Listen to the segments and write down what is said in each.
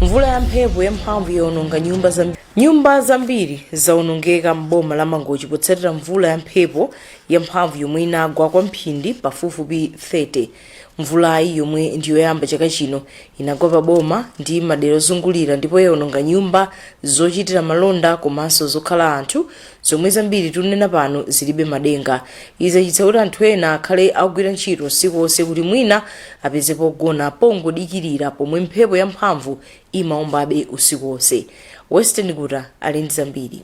mvula ya mphepo ya mphamvu yaononga nyumba zambiri zaonongeka m'boma la mangochi potsatira mvula ya mphepo ya mphamvu yomwe inagwa kwa mphindi pafupifupi 30 mvulayi yomwe ndiyoyamba chaka chino inagwa pa boma ndi madera ozungulira ndipo yaononga nyumba zochitira malonda komanso zokhala anthu zomwe zambiri tikunena pano zilibe madenga izi zachititsa kuti anthu ena akhale akugwira ntchito usiku wonse kuti mwina apeze pogona pongodikirira pomwe mphepo yamphamvu imaombabe usiku wonse western guta ali ndi zambiri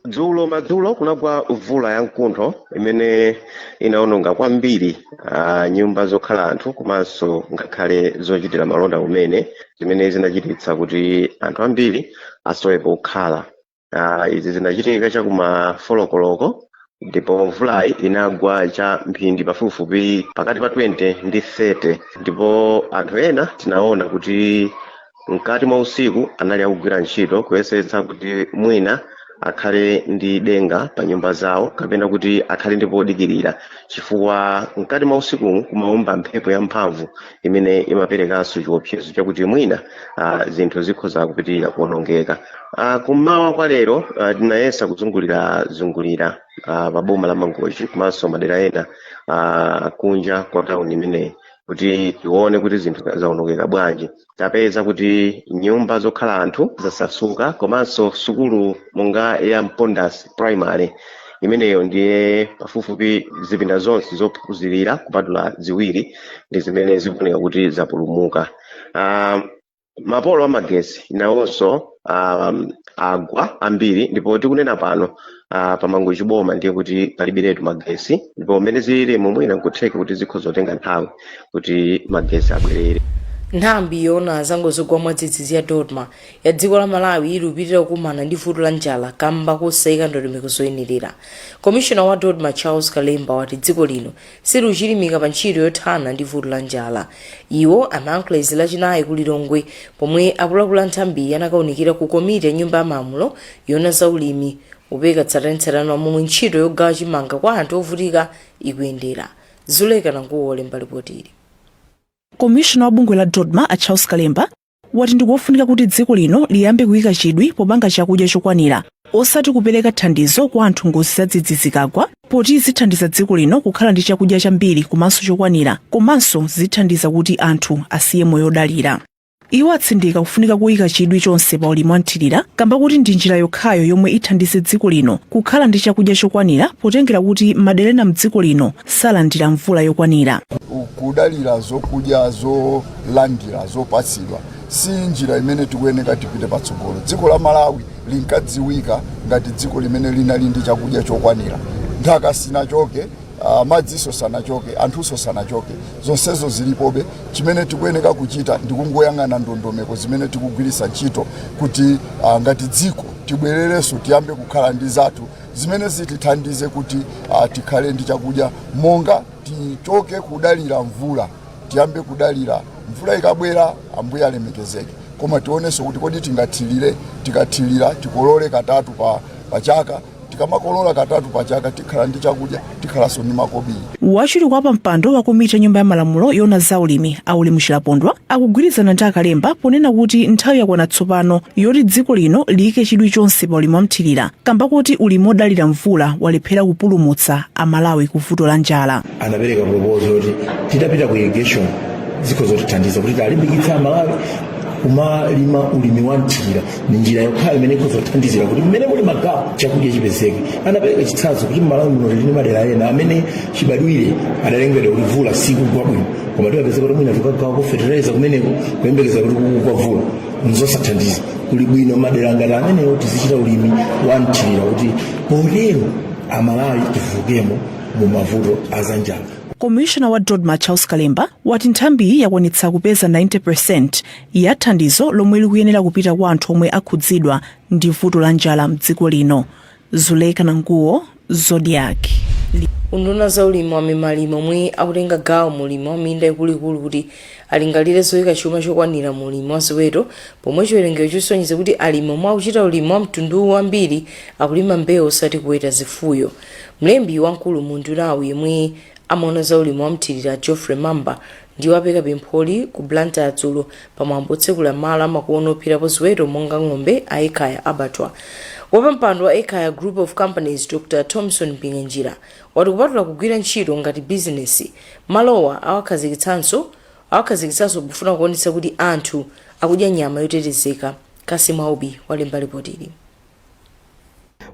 dzulo madzulo kunagwa mvula ya mkuntho imene inaononga kwambiri uh, nyumba zokhala anthu komanso ngakhale zochitira malonda kumene zimene zinachititsa kuti anthu ambiri asowe pokhala Ah, izi zinachitika cha kuma folokoloko ndipo mvulayi inagwa cha mphindi pafupifupi pakati pa 20 ndi 30 ndipo anthu ena tinaona kuti mkati mwa usiku anali akugwira ntchito kuyesetsa kuti mwina akhale ndi denga pa nyumba zawo kapena kuti akhale ndi podikirira chifukwa mkati mwa usikumu kumaomba mphepo yamphamvu imene imaperekanso chiopsezo chakuti mwina ah, zinthu zikhoza kupitirira kuonongeka Ah, kummawa kwa lero ah, tinayesa kuzungulira zungulira ah, pa boma la mangochi komanso madera ena ah, kunja kwa tauni imeneyi kuti tione kuti zinthu zaonongeka bwanji tapeza kuti nyumba zokhala anthu zasasuka komanso sukulu monga ya mpondas primary imeneyo ndiye pafupifupi zipinda zonse zophunzirira kupatula ziwiri ndi zimene zikuoneka kuti zapulumuka Ah, mapolo amagesi nawonso um, agwa ambiri ndipo tikunena pano uh, pa mangochi boma ndiye kuti palibiretu magesi ndipo mmene ziliri mwina nkutheka kuti zikhoza kutenga nthawi kuti magesi abwerere nthambi yoona za ngozi zogwa mwadzidzidzi ya dodma yati dziko la malawi likupitirira kukumana ndi vuto la njala kamba kosayika ndondomeko zoyenerera komishona wa dodma charles kalemba wati dziko lino silikuchilimika pa ntchito yothana ndi vuto la njala iwo amayankhula izi lachinayi ku lilongwe pomwe akuluakulu a nthambiyi anakaunikira ku komiti ya nyumba ya malamulo yoona za ulimi kupereka tsatanetsatane wa momwe ntchito yogawa chimanga kwa anthu ovutika ikuyendera zuleka nanguwo olemba lipotili komishona wa bungwe la dodma a charles kalemba wati ndikofunika kuti dziko lino liyambe kuyika chidwi popanga chakudya chokwanira osati kupereka thandizo kwa anthu ngozi zadzidzidzi zikagwa poti zithandiza dziko lino kukhala ndi chakudya chambiri komanso chokwanira komanso zithandiza kuti anthu asiye moyo odalira iwo atsindika kufunika koyika chidwi chonse pa ulimi wamthirira kamba kuti ndi njira yokhayo yomwe ithandize dziko lino kukhala ndi chakudya chokwanira potengera kuti madera ena mdziko lino salandira mvula yokwanira kudalira zokudya zo zolandira zopatsidwa si njira imene tikuyeneka tipite patsogolo dziko la malawi linkadziwika ngati dziko limene linali ndi chakudya chokwanira nthaka sinachoke uh, madziso sanachoke anthuso sanachoke zonsezo zilipobe chimene tikuyeneka kuchita ndikungoyang'ana ndondomeko zimene tikugwiritsa ntchito kuti uh, ngati dziko tibwererenso tiyambe kukhala ndi zinthu zimene zitithandize kuti uh, tikhale ndi chakudya monga tichoke kudalira mvula tiyambe kudalira mvula ikabwera ambuye alemekezeke koma tionenso kuti kodi tikathirire tikathirira tikolole katatu pa, pa chaka tikamakolola katatu pa chaka tikhala ndi chakudya tikhalanso ndi makobiri wachiwiri kwa pampando wa komiti ya nyumba ya malamulo yona za ulimi a Ulemu Chilapondwa akugwirizana ndi a Kalemba ponena kuti nthawi yakwana tsopano yoti dziko lino liyike chidwi chonse pa ulimi wamthirira kamba kuti ulimi wodalira mvula walephera kupulumutsa amalawi ku vuto la njala anapereka proposal yoti titapita ku irrigation zikhoza kutithandiza kuti tilimbikitse amalawi kumalima ulimi wa mthirira ni njira yokhayo imene ikhoza kuthandizira kuti mmalawi muno mwathu chakudya chipezeke anapereka chitsanzo kuti mmalawi muno tili ndi madera ena amene chibadwire adalengedwa kuti mvula sikugwa bwino koma timapezeka kuti mwina tikukagawako fertilizer kumeneko kuyembekeza kuti kukagwa mvula nzosathandiza kuli bwino madera ngati amenewo tizichita ulimi wa mthirira kuti potero amalawi tivuukemo mu mavuto aza njala komishona wa dodma charles kalemba wati nthambiyi yakwanitsa kupeza 90 percent ya thandizo lomwe likuyenera kupita kwa anthu omwe akhudzidwa ndi vuto la njala mdziko lino zuleka nanguwo zodiac unduna wa za ulimi wamema alimi omwe akutenga gawo mu ulimi wa minda ikuluikulu kuti alingalire zoyika chuma chokwanira mu ulimi wa ziweto pomwe chiwerengero chisonyeza kuti alimi omwe akuchita ulimi wa mtunduwu wambiri akulima mbewu osati kuweta zifuyo Mlembi wamkulu mu undunawu yemwe amaona za ulimi wa mthirira Geoffrey Mamba ndi wapereka pempholi ku Blantyre dzulo pa mwambo otsekulira malo amakono opherapo ziweto monga ng'ombe a Ekhaya Abattoir. Wapampando wa Ekhaya Group of Companies Dr Thomson Mpinganjira wati kupatula kugwira ntchito ngati bizinesi, malowa awakhazikitsa awakhazikitsanso pofuna kuonetsa kuti anthu akudya nyama yotetezeka. Cassim Aubi walemba lipotili.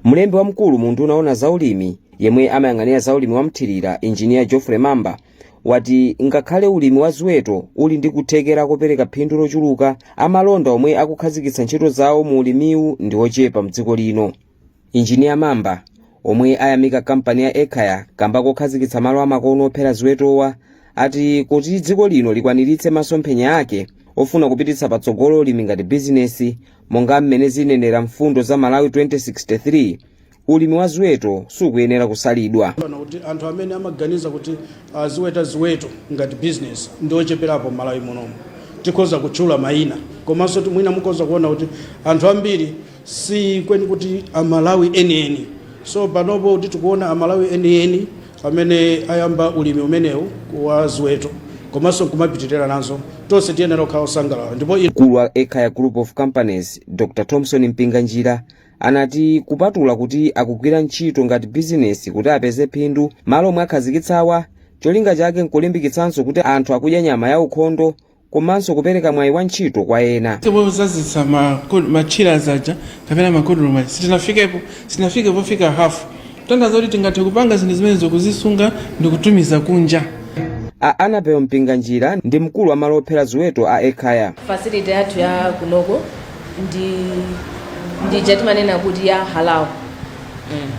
Mlembi wamkulu mu unduna owona za ulimi yemwe amayang'anira za ulimi wa mthirira Engineer Geoffrey Mamba wati ngakhale ulimi wa ziweto uli ndi kuthekera kopereka phindu lochuluka, amalonda omwe akukhazikitsa ntchito zawo mu ulimiwu ndi ochepa mdziko lino. Engineer Mamba omwe ayamika kampani ya Ekhaya kamba kokhazikitsa malo amakono ophera ziwetowa ati kuti dziko lino likwaniritse masomphenya ake ofuna kupititsa patsogolo ulimi ngati bizinesi, monga mmene zinenera mfundo za malawi 2063 ulimi wa ziweto sukuyenera kusalidwa kunena kuti anthu amene amaganiza kuti aziweta ziweto ngati business ndi ocheperapo mmalawi munomu tikhoza kutchula mayina komanso ti- mwina mukhoza kuona kuti anthu ambiri si kweni kuti amalawi enieni so panopo kuti tikuona amalawi enieni amene ayamba ulimi umenewu wa ziweto komanso nkumapitirira nazo, tonse tiyenera kukhala osangalala ndipo Mkulu wa Ekhaya Group of Companies, Dr Thomson Mpinganjira, anati kupatula kuti akugwira ntchito ngati bizinesi kuti apeze phindu, malo omwe akhazikitsawa cholinga chake nkulimbikitsanso kuti anthu akudya nyama ya ukhondo komanso kupereka mwayi wa ntchito kwa ena. pozazitsa ma ko- ma chillers aja kapena ma cold room aja sitinafikepo sitinafike pofika hafu kutanthauza kuti tingathe kupanga zinthu zimene zokuzisunga ndi kutumiza kunja A Annabel Mpinganjira ndi mkulu wa malo ophera ziweto a Ekhaya. facility yathu ya kunoko ndi ija timanena kuti ya halal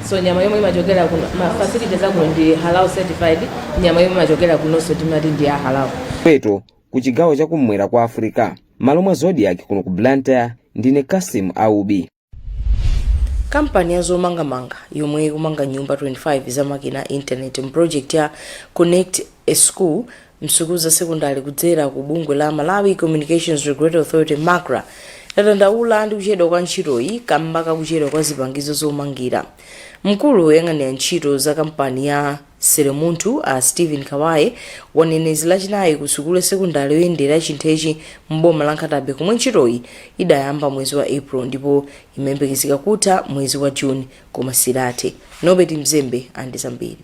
so nyama yomwe imachokera kuno ma facilities akuno ndi halal certified nyama yomwe imachokera kunonso timati ndi ya halal ziweto ku chigawo cha kum'mwera kwa africa malo mwa zodiak kuno ku blantyre ndine kasim aubi kampani ya zomangamanga yomwe ikumanga nyumba 25 za makina a intaneti mu project ya connect a school msukulu za sekondari kudzera ku bungwe la malawi communications regulatory authority macra ladandaula ndi kuchedwa kwa ntchitoyi kamba ka kuchedwa kwa zipangizo zomangira mkulu woyang'anira ntchito za kampani ya seremunthu a stephen kawaye wanena izi lachinayi ku sukulu ya sekondari yoyendera chinthechi mboma la nkhata bay komwe ntchitoyi idayamba mwezi wa april ndipo imayembekezeka kutha mwezi wa june koma sidathe norbert mzembe ali ndi zambiri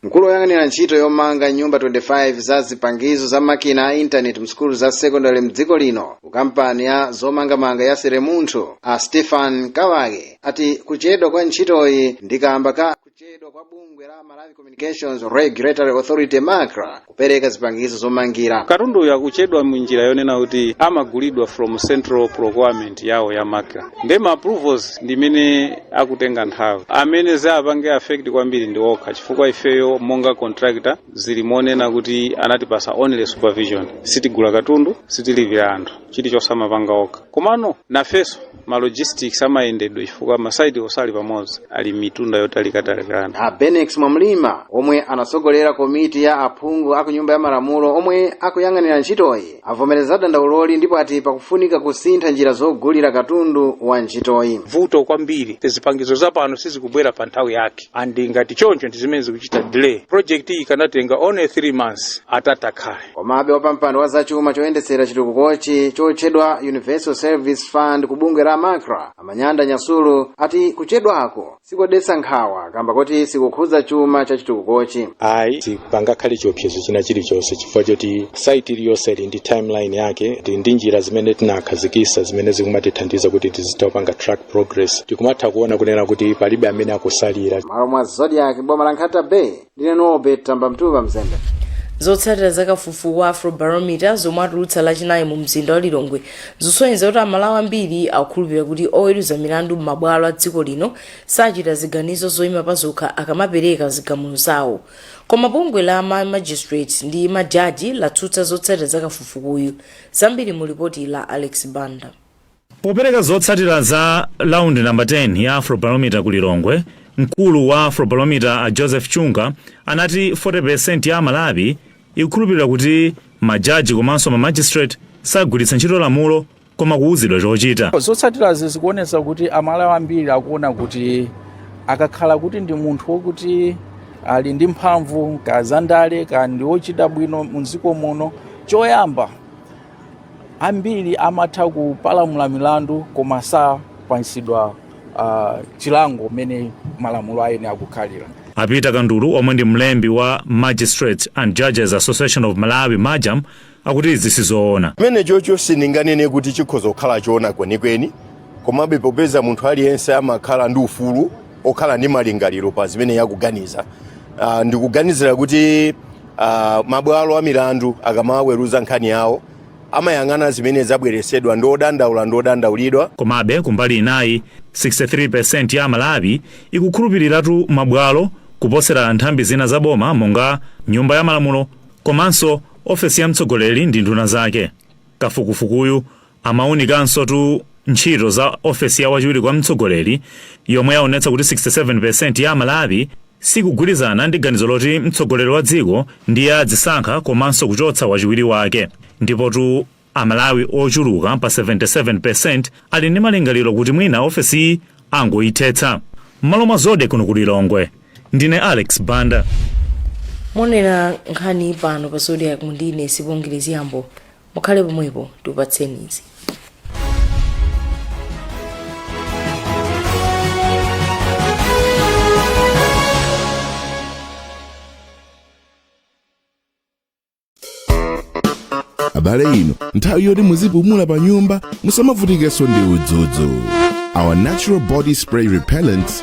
mkulu woyang'anira ntchito yomanga nyumba 25 za zipangizo za makina a intaneti msukulu za sekondale mdziko lino ku kampani ya zomangamanga ya seremunthu a stephen kawaye ati kuchedwa kwa ntchitoyi ndi kamba ka kuchedwa kwa bungwe la malawi communications regulatory authority macra kupereka zipangizo zomangira katundu uyu akuchedwa munjira yonena kuti amagulidwa from central procurement yawo ya macra nde ma approvals ndi amene akutenga nthawi amene zawapanga affect kwambiri ndi okha chifukwa ifeyo monga contractor zili monena kuti anatipasa only supervision sitigula katundu sitilipira anthu chilichonse amapanga okha komano nafeso ma logistics amayendedwe chifukwa masaiti onse sali pamodzi ali m'mitunda yotalikatalikana a benex mwamlima omwe anatsogolera komiti ya aphungu aku nyumba ya malamulo omwe akuyang'anira ntchitoyi avomereza dandauloli ndipo ati pakufunika kusintha njira zogulira katundu wa ntchitoyi vuto kwambiri zipangizo zapano sizikubwera pa nthawi yake and ngati choncho ndi zimene zikuchita delay project iyi ikanatenga only 3 months atatakhale komabe wapampando wa zachuma choyendetsera chitukukochi chotchedwa universal service fund ku bungwe la macra amanyanda nyasulu ati kuchedwako sikodetsa nkhawa kamba kuti sikukhudza chuma cha chitukukochi ayi sipangakhale chiopsezo china chilichonse chifukwa choti saiti iliyonse ili ndi timeline yake ndi ndi njira zimene tinakhazikisa zimene zikumatithandiza kuti tizitha kupanga track progress tikumatha kuona kunena kuti palibe amene akusalira malo mwa zodiak boma la nkhata bay ndine norbert tambamtuva mzembe zotsatira za kafukufuku wa afrobarometer zomwe atulutsa lachinayi mu mzinda wa lilongwe zikusonyeza kuti amalawi ambiri akukhulupirira kuti oweruza milandu m'mabwalo a dziko lino sachita ziganizo zoyima pazokha akamapereka zigamulo zawo koma bungwe la ma magistrate ndi majaji latsutsa zotsatira za kafukufukuyu zambiri mu lipoti la alex banda Popereka zotsatira za Round number 10 ya Afrobarometer ku Lilongwe, mkulu wa Afrobarometer a Joseph Chunga anati 40% ya Amalawi ikukhulupirira kuti ma jaji komanso ma magistrate sagwiritsa ntchito lamulo koma kuuzidwa chochita. Zotsatirazi zikuonetsa kuti Amalawi ambiri akuona kuti akakhala kuti ndi munthu wokuti ali ndi mphamvu ka zandale ka ndi wochita bwino m'dziko muno, choyamba ambiri amatha kupalamula milandu koma sapatsidwa uh, chilango mmene malamulo ayenera kukhalira a peter kandulu omwe ndi mlembi wa magistrates and judges association of malawi majam akuti izi sizoona chimene chocho sindinganene kuti chikhoza kukhala choona kwenikweni komabe popeza munthu aliyense amakhala ndi ufulu okhala ndi malingaliro pa zimene iye akuganiza uh, ndikuganizira kuti Uh, mabwalo a milandu akamaweruza nkhani yawo amayang'ana zimene zabweresedwa ndi odandaula ndi odandaulidwa Komabe, kumbali inayi, 63% ya Amalawi ikukhulupiriratu mabwalo kuposera nthambi zina za boma monga Nyumba ya Malamulo komanso ofesi ya mtsogoleri ndi nduna zake. Kafukufukuyu Amaunikansotu ntchito za ofesi ya wachiwiri kwa mtsogoleri yomwe yaonetsa kuti 67% ya Amalawi sikugwirizana ndi ganizo loti mtsogoleri wa dziko ndiye adzisankha komanso kuchotsa wachiwiri wake. Ndipotu Amalawi ochuluka pa 77% ali ndi malingaliro kuti mwina ofesiyi angoithetsa. M'malo mwa Zodiak kuno ku Lilongwe, ndine Alex Banda. mukuonera nkhani pano pa zodiak muno ndine sibongile zyambo mukhale pomwepo tikupatseni izi abale ino nthawi yoti muzipumula pa nyumba musamavutikenso ndi udzudzu our natural body spray repellents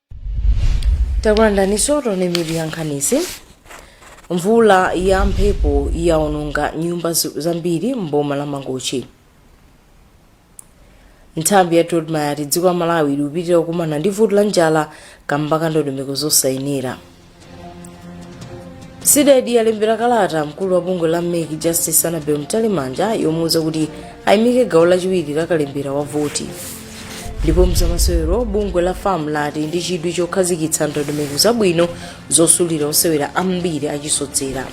takulandiraninso tione mitu ya nkhanizi mvula ya mphepo yaononga nyumba zambiri mboma la mangochi nthambi ya dodma yati dziko la malawi likupitira kukumana ndi vuto la njala kamba ka ndondomeko zosayenera cdedi yalembera kalata mkulu wa bungwe la mec justice anabel mtalimanja yomuwuza kuti ayimike gawo lachiwiri la kalembera wa voti ndipo mzamasewero bungwe la fam lati ndi chidwi chokhazikitsa ndondomeko zabwino zosulira osewera ambiri achisodzera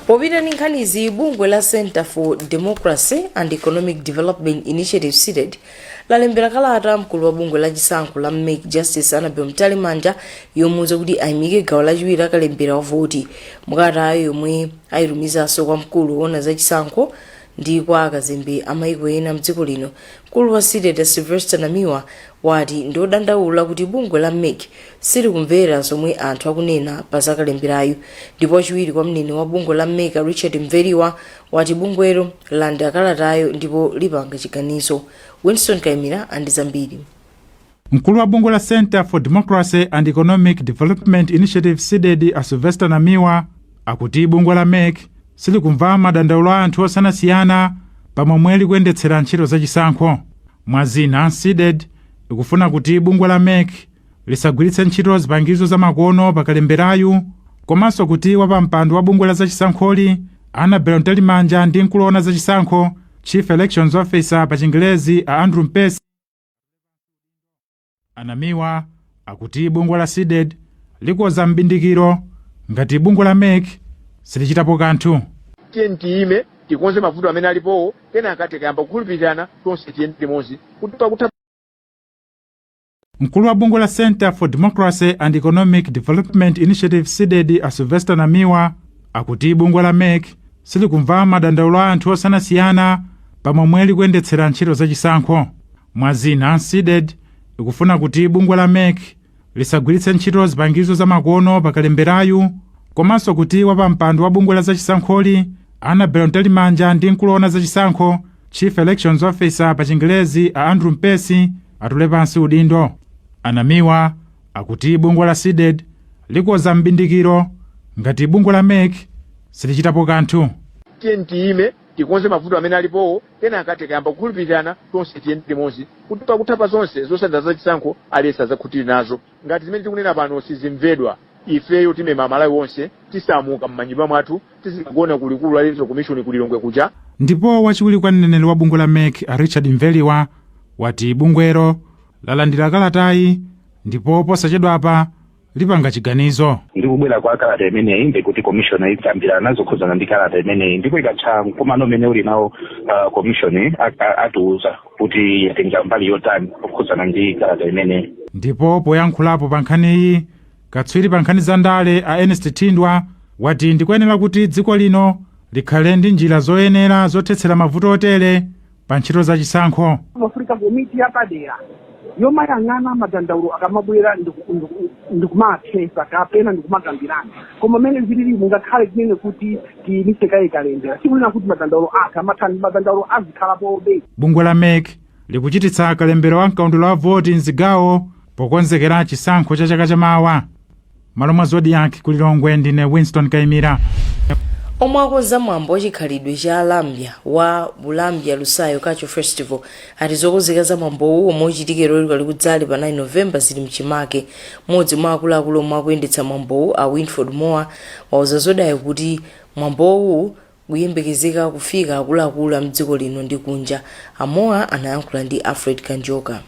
popita ndi nkhanizi bungwe la center for democracy and economic development initiative cdedi lalembera kalata mkulu wa bungwe la chisankho la mec justice anabel mtalimanja yomuuza kuti ayimike gawo lachiwiri la kalembera wa voti mukalatayo yomwe ayitumizanso kwa mkulu woona za chisankho ndi kwa akazembe amayiko ena mdziko lino mkulu wa cdedi sylvester namiwa wati ndi odandaula kuti bungwe la mec silikumvera zomwe anthu akunena pa zakalemberayu ndipo wachiwiri kwa mneneri wa bungwe la mec richard mveriwa wati bungwelo lalandira kalatayo ndipo lipanga chiganizo winston kaimira ali ndi zambiri mkulu wa bungwe la center for democracy and economic development initiative cdedi a sylvester namiwa akuti bungwe la mec silikumva madandaulo a anthu osiyanasiyana pamomwe likuyendetsera ntchito zachisankho mwa zina cdedi ikufuna kuti bungwe la mec lisagwiritse ntchito zipangizo zamakono pa kalemberayu komanso kuti wapampando wa bungwe la zachisankholi annabel mtalimanja ndi mkulu woona zachisankho chief elections officer pa chingelezi a andrew mpesi anamiwa akuti bungwe la cdedi likonza mbindikiro ngati bungwe la mec silichitapo kanthu tiyeni tiyime tikonze mavuto amene alipowo kenaka tikayamba kukhulupirirana tonse tiyende limodzi kuti pakutha Mkulu wa bungwe la Center for Democracy and Economic Development Initiative CDEDI a Sylvester Namiwa akuti bungwe la mec silikumva madandaulo a anthu osiyanasiyana pa momwe likuyendetsera ntchito zachisankho mwa zina CDEDI ikufuna kuti bungwe la mec lisagwiritse ntchito zipangizo zamakono pakalemberayu komanso kuti wapampando wa bungwe la zachisankholi Annabel Mtalimanja ndi mkulu woona zachisankho Chief Elections Officer pa chingelezi a Andrew Mpesi atule pansi udindo. A Namiwa akuti bungwe la Cdedi likonza m'bindikiro ngati bungwe la mec silichitapo kanthu. Tiyeni tiyime tikonze mavuto amene alipowo kenaka tikayamba kukhulupirirana tonse tiyende limodzi kuti pakutha pa zonse zotsatira za chisankho aliyense adzakhutire nazo. Ngati zimene tikunena pano sizimvedwa, ifeyo timema Amalawi onse, tisamuka m'manyumba mwathu, tizikagona ku likulu la Electoral Commission ku Lilongwe kuja. Ndipo wachiwiri kwa mneneri wa bungwe la mec a Richard Mveriwa wati bungwelo lalandira kalatayi ndipo posachedwapa lipanga chiganizo. Ndi kubwera kwa kalata imeneyi ndi kuti commission ikambirana zokhudzana ndi kalata imeneyi ndipo ikatha mkumano umene uli nawo ah, commission a- a- atiuza. kuti yatenga mbali yotani pokhudzana ndi kalata imeneyi ndipo poyankhulapo pa nkhaniyi katswiri pa nkhani za ndale a ernest thindwa wati ndikuyenera kuti dziko lino likhale ndi njira zoyenera zothetsera mavuto otere pa ntchito za chisankho pamafunika komiti yapadera yomayang'ana madandaulo akamabwera ndiku- ndiku- ndikumawathesa kapena ndikumakambirana koma mmene zilili mungakhale kunene kuti tiyimise kaye kalembera sikunena kuti madandaulo atha amathani madandaulo azikhalapobe Bungwe la mec likuchititsa kalembero wa mkaundula wa voti mzigawo pokonzekera chisankho cha chaka chamawa mmalo mwa Zodiak ku lilongwe ndine winston kaimira omwe akonza mwambo wachikhalidwe cha alambya wa bulambya lusayo culture festival ati zokonzeka za mwambowu omwe uchitikire ku Kalikudzali pa 9 novemba zili mchimake mmodzi mwa akuluakulu omwe akuyendetsa mwambowu a winford moa wauza Zodiak kuti mwambowu kukuyembekezeka kufika akuluakulu a mdziko lino ndi kunja. A Moa anayankhula ndi Alfred Kanjoka.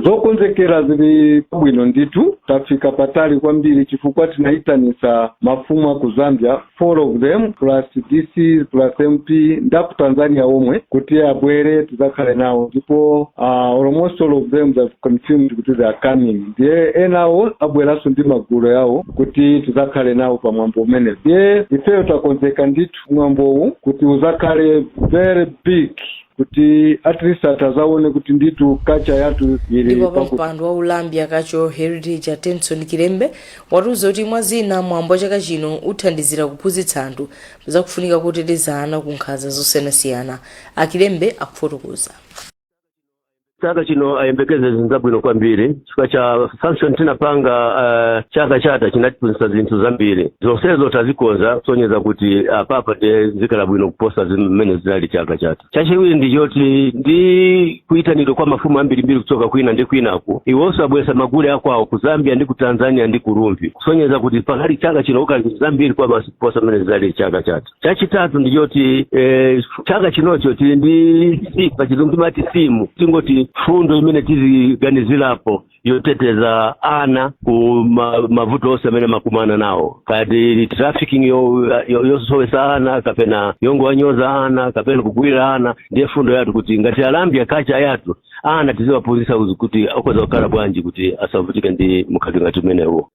zokonzekera zili pabwino ndithu tafika patali kwambiri chifukwa tinayitanisa mafumu a ku zambia 4 of them plus DC plus MP ndaku Tanzania omwe kuti abwere tizakhale nawo ndipo uh, almost all of them have confirmed kuti they are coming ndiye enawo abweranso ndi magulu yawo kuti tizakhale nawo pa mwambo umenewu ndiye ifeyo takonzeka ndithu mwambowu kuti uzakhale very big kuti at least atazaone kuti ndithu culture yathu ili ndipo wapampando wa Ulambya culture heritage atenson kilembe watiuza kuti mwa zina mwambo wa chaka chino uthandizira kuphunzitsa anthu za kufunika koteteza ana ku nkhanza zosiyanasiyana akilembe akufotokoza chaka chino ayembekeze zinthu zabwino kwambiri chifukwa cha function tinapanga uh, chaka chatha chinatiphunzitsa zinthu zambiri zonsezo tazikonza kusonyeza kuti apapa ndiye zikhala bwino kuposa mmene zinali chaka chatha chachiwiri ndi choti ndi kuyitanidwa kwa mafumu ambirimbiri kuchoka kwina ndi kwinaku iwonso abweretsa magule akwawo ku zambia ndi ku tanzania ndi ku Rumphi kusonyeza kuti pakhala chaka chino kukhala zinthu zambiri kwabasi kuposa mmene zidali chaka chatha chachitatu ndi choti eh, chaka chinocho tili ndi simu pa chizungu timati simu tingoti mfundo imene tiziganizirapo yoteteza ana ku ma- mavuto onse amene amakumana nawo ngati trafficking yo- yo- yosowesa ana kapena yongowanyoza ana kapena kugwirira ana ndiye fundo yathu kuti ngati a lambya kacha yathu ana tiziwaphunzitsa kuti akhoza kukhala bwanji kuti asavutike ndi mkhalidwe ngati umenewo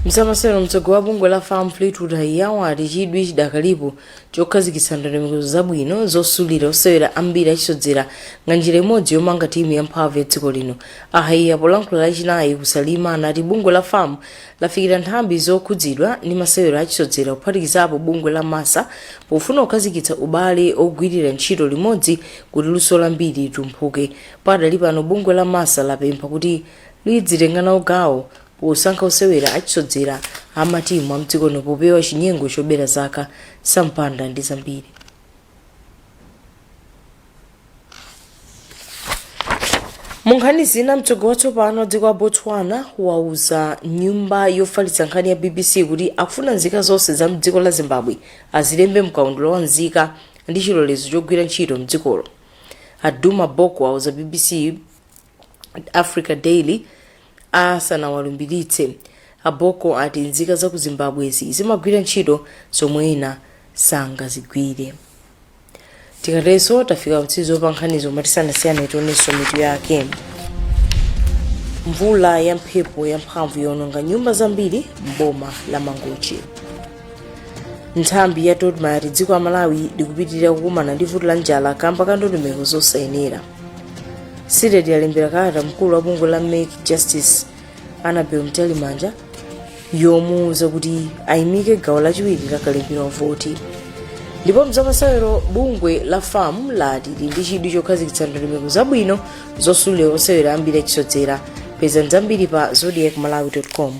mzamasewero mtsogoleri wa bungwe la fam fleetwood haiya wati chidwi chidakalipo chokhazikitsa ndondomeko zabwino zosulira osewera ambiri achisodzera ngati njira imodzi yomanga timu yamphamvu ya dziko lino a haiya polankhula lachinayi ku salima anati bungwe la fam lafikira nthambi zokhudzidwa ndi masewero achisodzera kuphatikizapo bungwe la massa pofuna kukhazikitsa ubale ogwirira ntchito limodzi kuti luso lambiri litumphuke pakadali pano bungwe la massa lapempha kuti lidzitenga nawo gawo Posankha osewera achisodzera a matimu amdziko lino popewa chinyengo chobera zaka, Sam Banda ndi zambiri. Munkhani zina mtsogoleri watsopano wa dziko la Botswana wauza nyumba yofalitsa nkhani ya BBC kuti akufuna nzika zonse za mdziko la Zimbabwe azilembe mkaundula wa nzika ndi chilolezo chogwira ntchito mdzikolo. A Duma Boko auza BBC africa daily asanawalumbiritse a boko ati nzika za ku zimbabwezi zimagwira ntchito zomwe ena sangazigwire tikatero tafika pamtsiriziro pa nkhanizi koma tisanasiyane tionenso mitu yake mvula ya mphepo yamphamvu yawononga nyumba zambiri m'boma la mangochi nthambi ya dodma yati dziko la malawi likupitirira kukumana ndi vuto la njala kamba ka ndondomeko zosayenera cdedi yalembera kalata mkulu wa bungwe la mec justice annabel mtalimanja yomuwuza kuti ayimike gawo lachiwiri la kalembera wa voti ndipo mzamasewero bungwe la fam lati lili ndi chidwi chokhazikitsa ndondomeko zabwino zosulira osewera ambiri achisodzera pezani zambiri pa zodiak malawi com